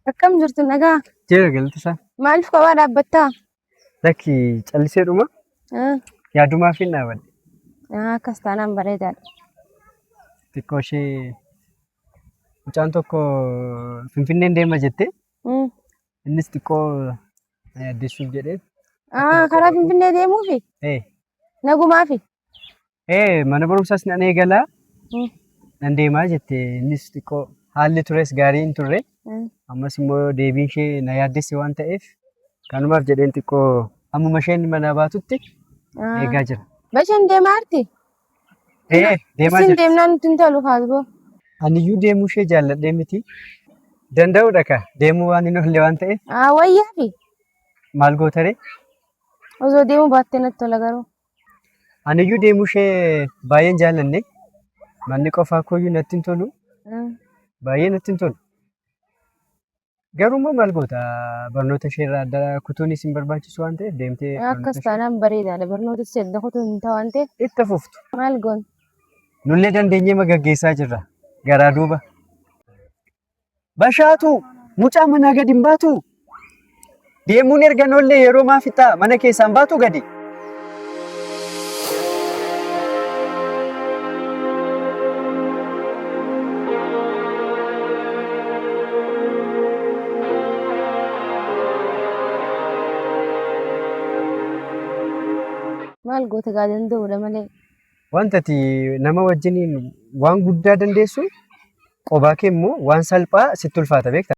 Akkam jirtu nagaa? Jira galti isaa. Maaliif kophaa dhaabbattaa? Lakki callisee dhuma Ah, yaadumaaf hin dhaabadhe. ah, Akkas taanaan bareedaadha. Xiqqoo ishee mucaan tokko Finfinneen deema jettee Mm. Innis xiqqoo na yaaddessuuf jedhee. Ah, karaa Finfinnee deemuufi? Ee, Nagumaafi? ee mana barumsaas nan eegala. Mm. Nan deemaa jette innis xiqqoo haalli tures gaarii hin turre. Mm. Ammas immoo deebiin ishee na yaaddesse waan ta'eef kanumaaf jedheen xiqqoo hammuma isheen manaa baatutti Ah. eegaa jira. Basheen deemaa jirti? Dee'ee deemaa Isin jirti. deemnaan nutti hin tolu kaasboo. Aniyyuu deemuu ishee jaalladhee miti. Danda'uudha ka deemuu waan hin oolle waan ta'eef Haa wayyaa fi maal gootaree? osoo deemuu baattee natti tola garuu. Aniyyuu deemuu ishee baay'een jaallanne. Manni qofaa kooyyuu natti hin tolu. Mm. Baay'ee natti hin tolu. Garuu immoo maal goota barnoota ishee irraa adda kutuun isin barbaachisu waan ta'eef deemtee barnoota Akkas ishee taanaan bareedaadha. Barnoota ishee adda kutuu hin ta'u waan ta'eef itti fuftu. maal goon? Nullee dandeenyee ma gaggeessaa jirra. Garaa duuba. Bashaatu mucaa manaa gad hin baatu. Deemuun erga noollee yeroo maa fixaa mana keessaan baatu gadi. Maal goota gaa danda'uudha malee. Wanta ati nama wajjiniin waan guddaa dandeessu qobaa kee immoo waan salphaa sitti ulfaata beekta.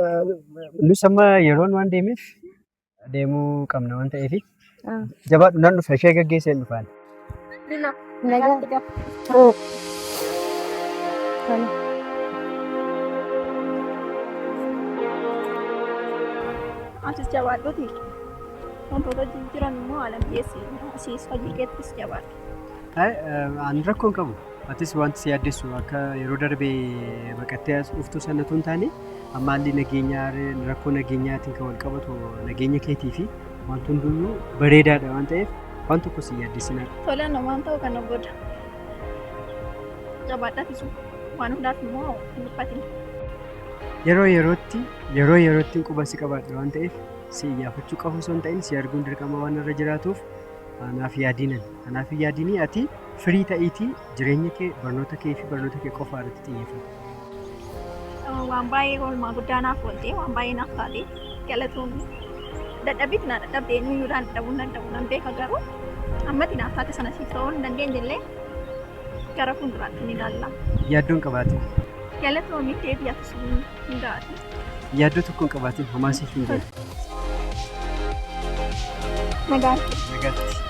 Eh, Nus amma yeroon waan deemeef deemuu qabna waan ta'eef jabaadhu nan dhufa ishee gaggeessee hin dhufaan. Atis jabaadhuti. Wantoota jijjiiran immoo haala mijeessi. Asiis hojii keettis jabaadhu. Ani rakkoon qabu. Atis wanti si yaaddessu akka yeroo darbe baqattee as dhuftu sana tun taane amma haalli nageenyaa rakkoo nageenyaatiin kan wal qabatu nageenya keetii fi wanti hunduyyuu bareedaadha waan ta'eef waan tokko si yaaddessinaa. Tola namaan ta'u kana booda. Jabaadhaa tisu waan hundaaf immoo hin dhiphatin. Yeroo yerootti yeroo yerootti quba si qabaadha waan ta'eef si iyyaafachuu qabu osoo hin ta'in si arguun dirqama waan irra jiraatuuf Anaaf yaadiin ani. Anaaf hin yaadinii ati firii ta'iitii jireenya kee barnoota kee fi barnoota kee qofaa irratti xiyyeeffadhu. Waan baay'ee oolmaa guddaa naaf oolte waan baay'ee naaf taate galatoon dadhabbiitti na dadhabde eenyuyyuu daan dadhabuu hin danda'u nan beeka garuu ammatti naaf taate sana siif ta'uu hin dandeenye illee gara fuulduraatti ni ilaalla. Yaaddoon qabaatin. Galatoomi deebii ati sun hundaati. Yaaddoo tokko hin qabaatin homaa siif hin jedhu. Nagaan kee. Nagaatti.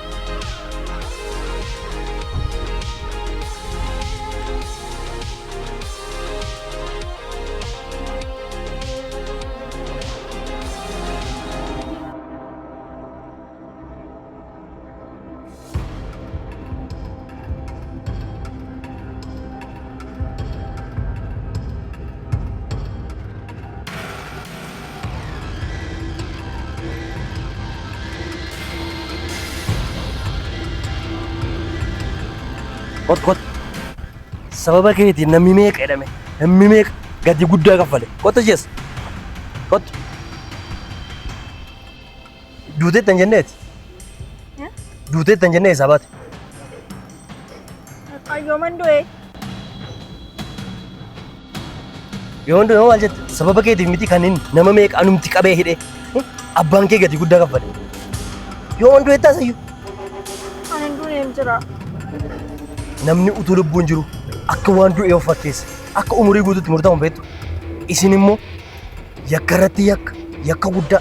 Kot kot. Sababa keetiin namni meeqa jedhame? Namni meeqa gatii guddaa kaffale? Kottu jees. Kottu. Duuteettan jenneeti. Duuteettan jennee eessaa baate? Qayyooman du'ee. Yoo hundi yoo maal jette sababa keetiif miti kan inni nama meeqa anumti qabee hidhee abbaan kee gatii guddaa kaffale. Yoo hundi jettaa sayyuu Ani hin duune hin jira. namni utuu lubbuun jiru akka waan du'ee of fakkeessa akka umurii guutuutti murtaa'uun beektu isin immoo yakka irratti yakka yakka guddaa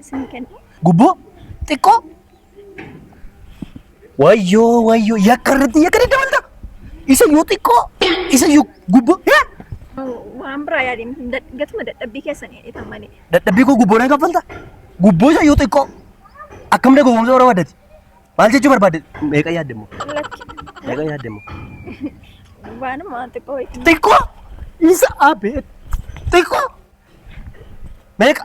Isin kenna. Gubboo? Xiqqoo? Wayyoo wayyoo yakka irratti yakka daddabalta. Isa yoo xiqqoo isa yoo gubboo yaa Waan biraa yaadeen hin dad- gatuma dadhabbii keessan jedhetan malee. dadhabbii koo gubboo nan kaffalta. Gubboo isa yoo xiqqoo akkam dagogomsa warra waddati. Maal jechuu barbaadde? Meeqa yaadde immoo? Lakki. Meeqa yaadde immoo? Waanuma waan xiqqoo wayii. Xiqqoo isa abeet xiqqoo meeqa?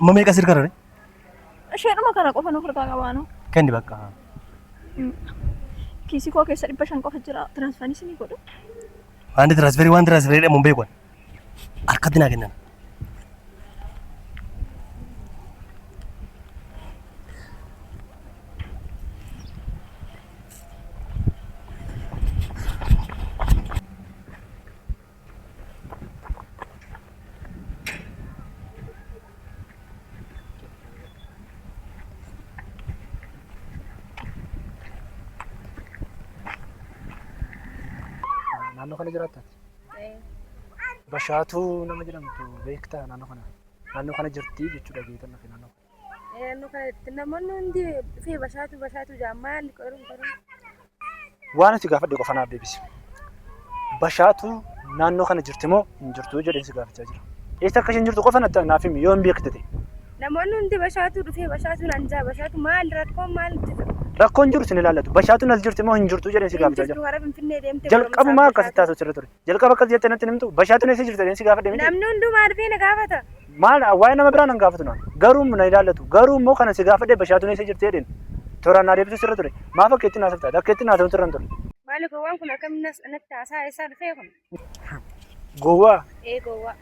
Amma meeqa sirka rare? Isheedhuma kana qofa nuuf harkaa qabaanu. Kenni bakka. Kiisii koo keessa dhibba shan qofa jira. Tiraansfaanii sinii godhu. Waan tiraansferii waan tiraansferii jedhamu hin beeku. Harkatti naa kennan. Naannoo kana jiraatta ati? Bashaatuu nama jedhamtu beektaa naannoo kana? Naannoo kana jirti jechuudha beekan naannoo kana. Naannoo kanatti namoonni hundi dhufee bashaatu bashaatu jaa maal qorun qorun. Waan ati gaafadhe qofa naaf deebisi. Bashaatu naannoo kana jirti moo hin jirtu jedheen si gaafachaa jira. Eessa akka isheen jirtu qofa natti naaf himi yoo hin beekte ta'e. Namoonni hundi bashaatu dhufee bashaatu naan jaa bashaatu maal rakkoon maal jira. Rakkoon jiru sin ilaallatu. Bashaatuun as jirti moo hin jirtu jedheen si Hin gaafachaa jirtu jira. gara Finfinnee deemtee Jalqabumaa akkasitti haasofsiirra ture. Jalqaba akkas jettee natti hin himtu. Bashaatuun eessa jirta jedheen si gaafadhe miti. Namni hundumaa dhufee na gaafata. Maal waa'ee nama biraa nan gaafatu naan. Garuu na ilaallatu. Garuu immoo kanan si gaafadhe bashaatuun eessa jirti jedheen. Tooraan naa deebisuu sirra ture. Maaf akka ittiin haasoftaati? Akka ittiin haasa'uun sirra hin ture. Maali gowwaan kun akkamiin natti haasaa eessaa dhufee kun? Gowwaa? Ee gowwaa.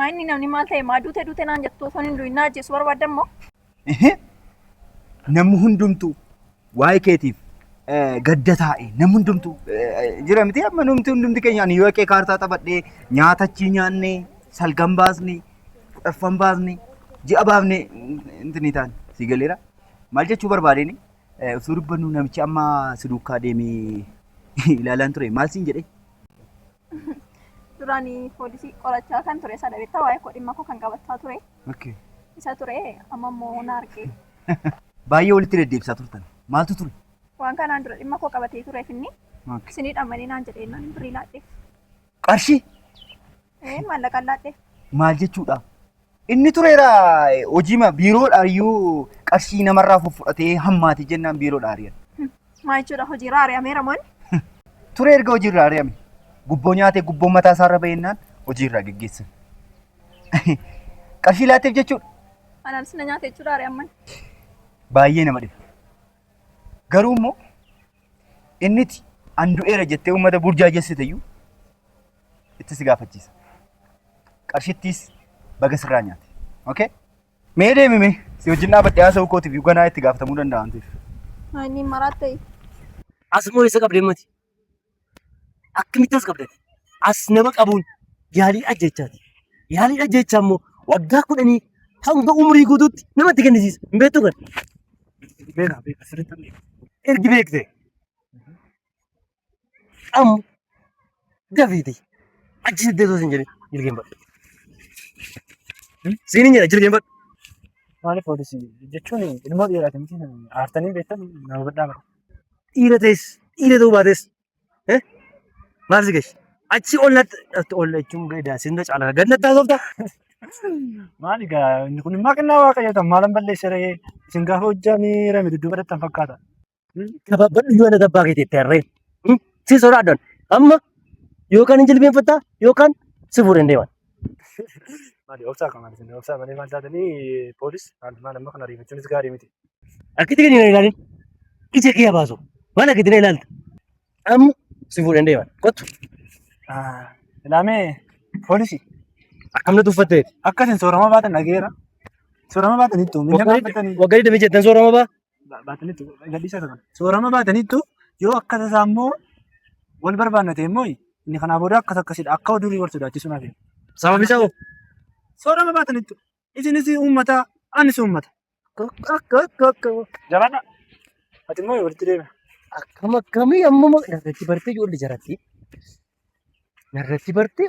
Maa inni namni maal ta'e maa duute duute naan jettu osoo hin du'in na ajjeesu barbaadda immoo. Ehe. Namni hundumtuu waa'ee keetiif eh, gadda taa'e namni hundumtuu eh, jira miti amma namni hundumti keenya ani yoo qee kaartaa taphadhee nyaata achii nyaannee salgan baasnee kudhaffan baasnee ji'a baafnee intinii taane si galeera maal jechuu barbaadeen eh, osoo dubbannu namichi amma si duukaa deemee ilaalaan ture maal siin jedhee Duraan poolisii qorachaa kan ture isa dhabeettaa waa'ee koo dhimma koo kan qabachaa ture Okay. isa ture amma immoo na arge. Baay'ee walitti deddeebisaa turtan. Maaltu ture? Waan kanaan dura dhimma koo qabatee tureef inni Okay. isinii dhamanii naan jedhee naan birrii laadheef. Qarshii Ee maallaqaan laadheef. maal jechuudha? Inni tureera hojiima biiroodhaa iyyuu qarshii namarraa fuffudhatee hammaate jennaan biiroodhaa ari'an. Maa jechuudha hojiirraa ari'ameera moo inni? Ture erga hojiirraa ari'ame. Gubboo nyaatee gubboon mataa isaarra ba'ennaan hojiirraa geggeessan. Qarshii laatteef jechuudha. Anaanis na nyaate jechuudha ari'amman. Baay'ee nama dhiba. Garuu immoo inniti an du'eera jettee uummata burjaajessite iyyuu itti si gaafachiisa. Qarshittiis baga sirraa nyaate. Okay? Mee deemi mee si wajjin dhaabadhee haasa'uu kootiif ganaa itti gaafatamuu danda'a waan ta'eef. Ani maraa ta'e. Asuma isa qabdee mati. Akkamitti as qabdati? As nama qabuun yaalii ajjechaati. Yaalii ajjechaa immoo waggaa kudhanii hanga umurii guutuutti namatti kennisiisa. Hin beektu kan? Beekaa beekaa sirriitti hin beeku. Ergi beekte Amma dafiiti achi siddee osoo sin jedhin jilgeenfadhu. Siin hin jedha jilgeenfadhu. Maaliif poolisii jechuun ilmoo dhiiraati miti aartanii beektan nama badhaa bara. Dhiira ta'es dhiira ta'uu baates eh, maal si gashi? Achi ol natti natti ol jechuun gadaa sin na caalaa gad natti haasofta. Maali gaa inni kun immoo kennaa waaqayyoo ta'an maalan balleessee ra'ee isin gaafa hojjaan rame dudduuba dhattan fakkaata. gabaabbannu yoo naga abbaa keetii itti harree si sodaadhan amma yookaan hin jilbeenfattaa yookaan si fuudhee hin deeman. Maali obsaa kan maali sinni obsaa malee maal taatanii poolis maal maal amma kana ariifachuunis gaarii miti. Akkatti gadi na ilaalin ija kee baasu maal akkatti na ilaalta amma si fuudhee hin deeman kottu Ilaamee poolisi akkam na tuffatteeti. akka isin soorama baatan dhageera. Soorama baatan ittuu miidhama baatanii. Waggaa 27 soorama baa baataniitu gadhiisaa turan. Soorama baataniitu yoo akka tasaa immoo wal barbaanna ta'e immoo inni kanaa booda akkas akkasidha akka durii wal sodaachisuu naaf Sababni isaa hoo? Soorama baataniitu isinis uummata anis uummata. Jabaadha. Ati immoo walitti deema. Akkam akkamii amma narratti bartee ijoollee jaratti. Narratti bartee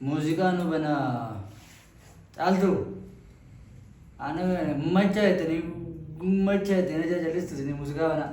Muuziqaa nu bana caaltu ana macha ittiin macha ittiin ajaa'ibsiistu muuziqaa banaa.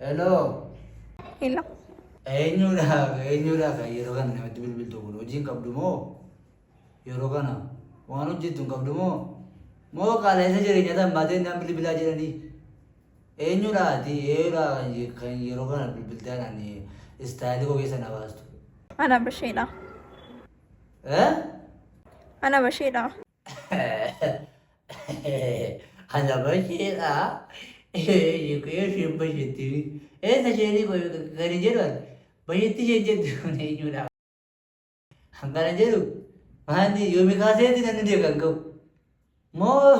Hello. Hello. Eenyuudhaaf eenyuudhaaf yeroo kana namatti bilbiltu kun hojii hin qabdu moo yeroo kana waan hojjettu hin qabdu moo moo qaala'insa jireenyaa tan baatee naan bilbilaa jedhanii eenyuudhaati eenyuudhaa kan je- kan yeroo kana bilbiltee anaan istaayilii koo keessa na baastu. Ana basheedha. Eh? Ana basheedha. Ana basheedha. Shikee sheen bashetti. Eessa sheenii gadi jedhan bashetti sheen jettu kun eenyudha? Hangana jedhu maanni yoomi kaaseeti namni du'e kan ka'u. Moo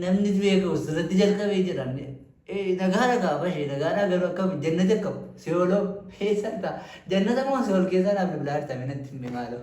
namni du'e ka'u sirratti jalqabee jedhan. Nagaadha kaa bashee nagaadha garuu akkam jannati akkam si'ooloo eessa argaa jannata moo si'ool keessaa naaf bilbilaa jirtame natti hin maaloo.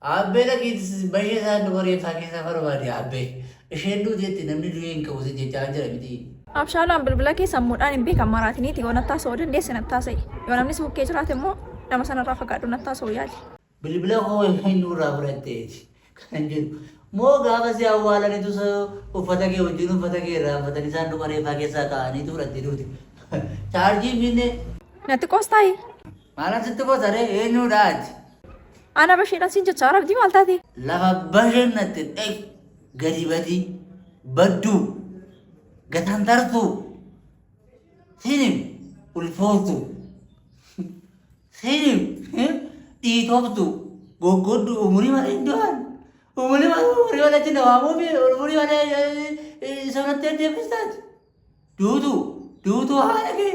Aabbee dhaqiiti si bashee isaan duba reefsaa keessaa barbaadi aabbee isheen duuteetti namni du'ee hin ka'u si jechaa jira mitii. Abshaalaan bilbila kee sammuudhaan hin beekan maraatiniiti yoo nattaa sa'uu dandeesse nattaa sa'i yoo namni si bukkee jiraate immoo nama sanarraa fagaadhu nattaa sa'uu yaali. Bilbila koo eenyu irraa fudhatteeti kanan jedhu moo gaafa si awwaalanitu sa uffata kee wajjin uffata kee irraanfatanii saanduqa reeffaa keessaa kaa'aniitu fudhattee duute chaarjii hin finne. Natti qoostaayi. Maal achitti goota ree eenyuudha ati? Ana basheedhaan siin jechaa rabdii maal taatee? Lafa basheen natte dhaq gadi badii badduu gataan tartuu sinim ulfooftu sinim dhiitoftu goggoddu umurii malee iddoon umurii malee umurii malee itti nawaamuu fi umurii malee sanatti deebistaati duutu duutu haala kee.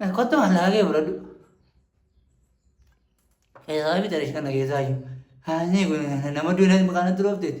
Eh, Kottu maallaa kee fudhadhu. Keessaa fi tarii kana keessaa iyyuu. Haasni kun nama duunatti maqaan itti roofteeti.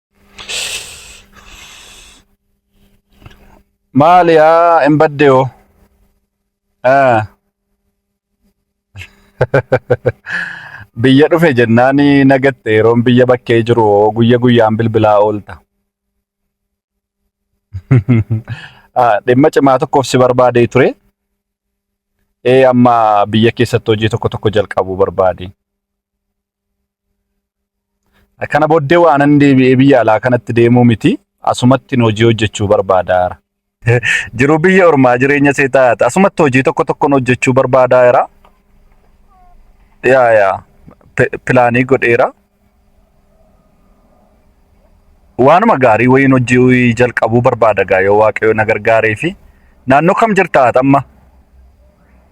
Maali yaa hin badde hoo? Ah. Biyya dhufe jennaani nagatte yeroon biyya bakkee jiru hoo guyya guyyaan bilbilaa oolta. Ah, Dhimma cimaa tokkoof si barbaadee ture. Ee amma biyya keessatti hojii tokko tokko jalqabuu barbaade. Kana booddee waanan deebi'ee biyya alaa kanatti deemuu miti. Asumatti hojii hojjechuu barbaadaara. Jiruu biyya ormaa jireenya seetaati. Asumatti hojii tokko tokkon hojjechuu barbaadaara. Yaa yaa pilaanii godheera. Waanuma gaarii wayiin hojii jalqabuu barbaada gaa yoo waaqayyo na gargaaree fi naannoo kam jirta ati amma?